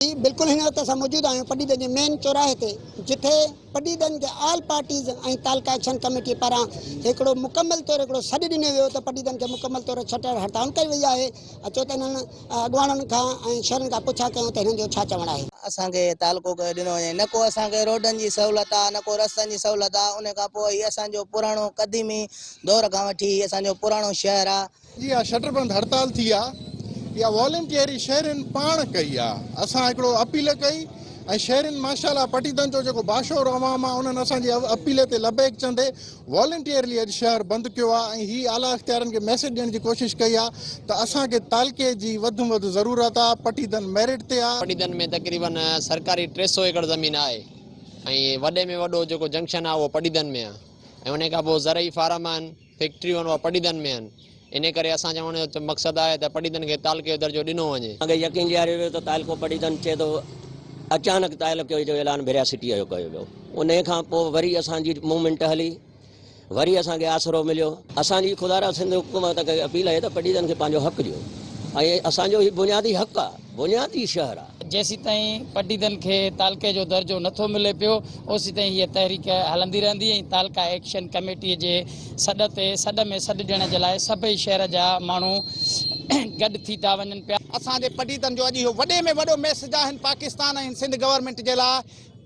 جي بلڪل هن وقت اسان موجود آهيون پڊيدن جي مين چوراهي تي جتي پڊيدن کي آل پارٽيز ۽ تعلقه ايڪشن ڪميٽي پاران هڪڙو مڪمل طور هڪڙو سڏ ڏنو ويو ته پڊيدن کي مڪمل طور ڇٽر هڙتال ڪئي وئي آهي اچو ته انهن اڳواڻن کان ۽ شهرين کان پڇا ڪيون ته هنن جو ڇا چوڻ آهي. اسان کي تعلقو ڪيو ڏنو وڃي نه ڪو اسان کي روڊن جي سهولت آهي نه ڪو رستن جي سهولت آهي ان کان پوء هي اسان جو پراڻو قديمي دور کان وٺي هي اسان جو پراڻو شهر آهي اها شٽر بند هڙتال ٿي آ يا والنٽيئري شهرين پاڻ ڪئي آ اسان هڪڙو اپيل ڪئي ۽ شهرين ماشاءالله پٽيدن جو جيڪو باشعور عوام آ انهن اسان جي اپيل تي لبيڪ چندي والنٽيئرلي اڄ شهر بند ڪيو آ ۽ هي اعليٰ اختيارين کي ميسيج ڏيڻ جي ڪوشش ڪئي آ ته اسان کي تعلقي جي وڌ م وڌ ضرورت آ پٽيدن ميرٽ تي آ. پٽيدن ۾ تقريبن سرڪاري ٽي سئو ايڪڙ زمين آهي ۽ وڏي ۾ وڏو جيڪو جنڪشن آ اهو پٽيدن ۾ آ ۽ انهي کان پوء زرعي فارم آهن. فيڪٽريون اها پڊيدن ۾ آهن، انهي ڪري اسان چوڻ جو مقصد آهي ته پڊيدن کي تعلقي جو درجو ڏنو وڃي. اڳي يقين ڏياريو ويو ته تعلقو پڊيدن چئي ٿو، اچانڪ تعلقي جو اعلان ڀريا سٽيء جو ڪيو ويو، انهي کان پوء وري اسان جي موومينٽ هلي، وري اسان کي آسرو مليو. اسان جي خدارا سنڌ حڪومت کي اپيل آهي ته پڊيدن کي پنهنجو حق ڏيو ۽ اسان جو هي بنيادي حق آهي. بنيادي شهر آ. جيسيتائين پٽيدن کي تعلقي جو درجو نٿو ملي پيو اوسيتائين هيء تحريڪ هلندي رهندي ۽ تعلقه ايڪشن ڪميٽيء جي سڏ تي سڏ ۾ سڏ ڏيڻ جي لاء سڀئي شهر جا ماڻهو گڏ ٿي ٿا وڃن پيا. اسان جي پٽيدن جو اڄ اهو وڏي ۾ وڏو ميسج آهن پاڪستان ۽ سنڌ گورنمينٽ جي لاء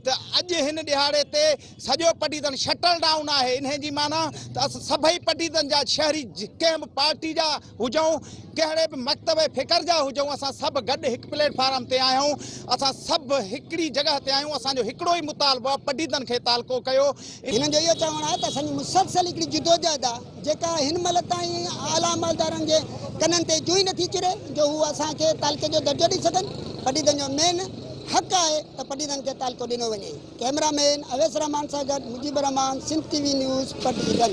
ته اڄ هن ڏهاڙي تي سڄو پٽيدن شٽل ڊائون آهي انهي جي معنيٰ ته اسان سڀئي پٽيدن جا شهري ڪنهن به پارٽي جا هجون، ڪهڙي به مڪتب ۽ فڪر جا هجون، اسان سڀ گڏ هڪ پليٽ فارم تي آهيون، اسان سڀ هڪڙي جڳهه تي آهيون، اسان جو هڪڙو ئي مطالبو آهي، پڊيدن کي تعلقو ڪيو. هنن جو اهو چوڻ آهي ته اسان جي مسلسل هڪڙي جدوجهد آهي، جيڪا هن مهل تائين اعليٰ عملدارن جي ڪنن تي جوئي نه ٿي چري جو هو اسان کي تعلقي جو درجو ڏئي سگهن، پڊيدن جو مين حق آهي ته پڊيدن کي تعلقو ڏنو وڃي. ڪئميرا مين اويس رحمان سان گڏ Mujeeb Ur Rehman, Sindh T V news, پڊيدن.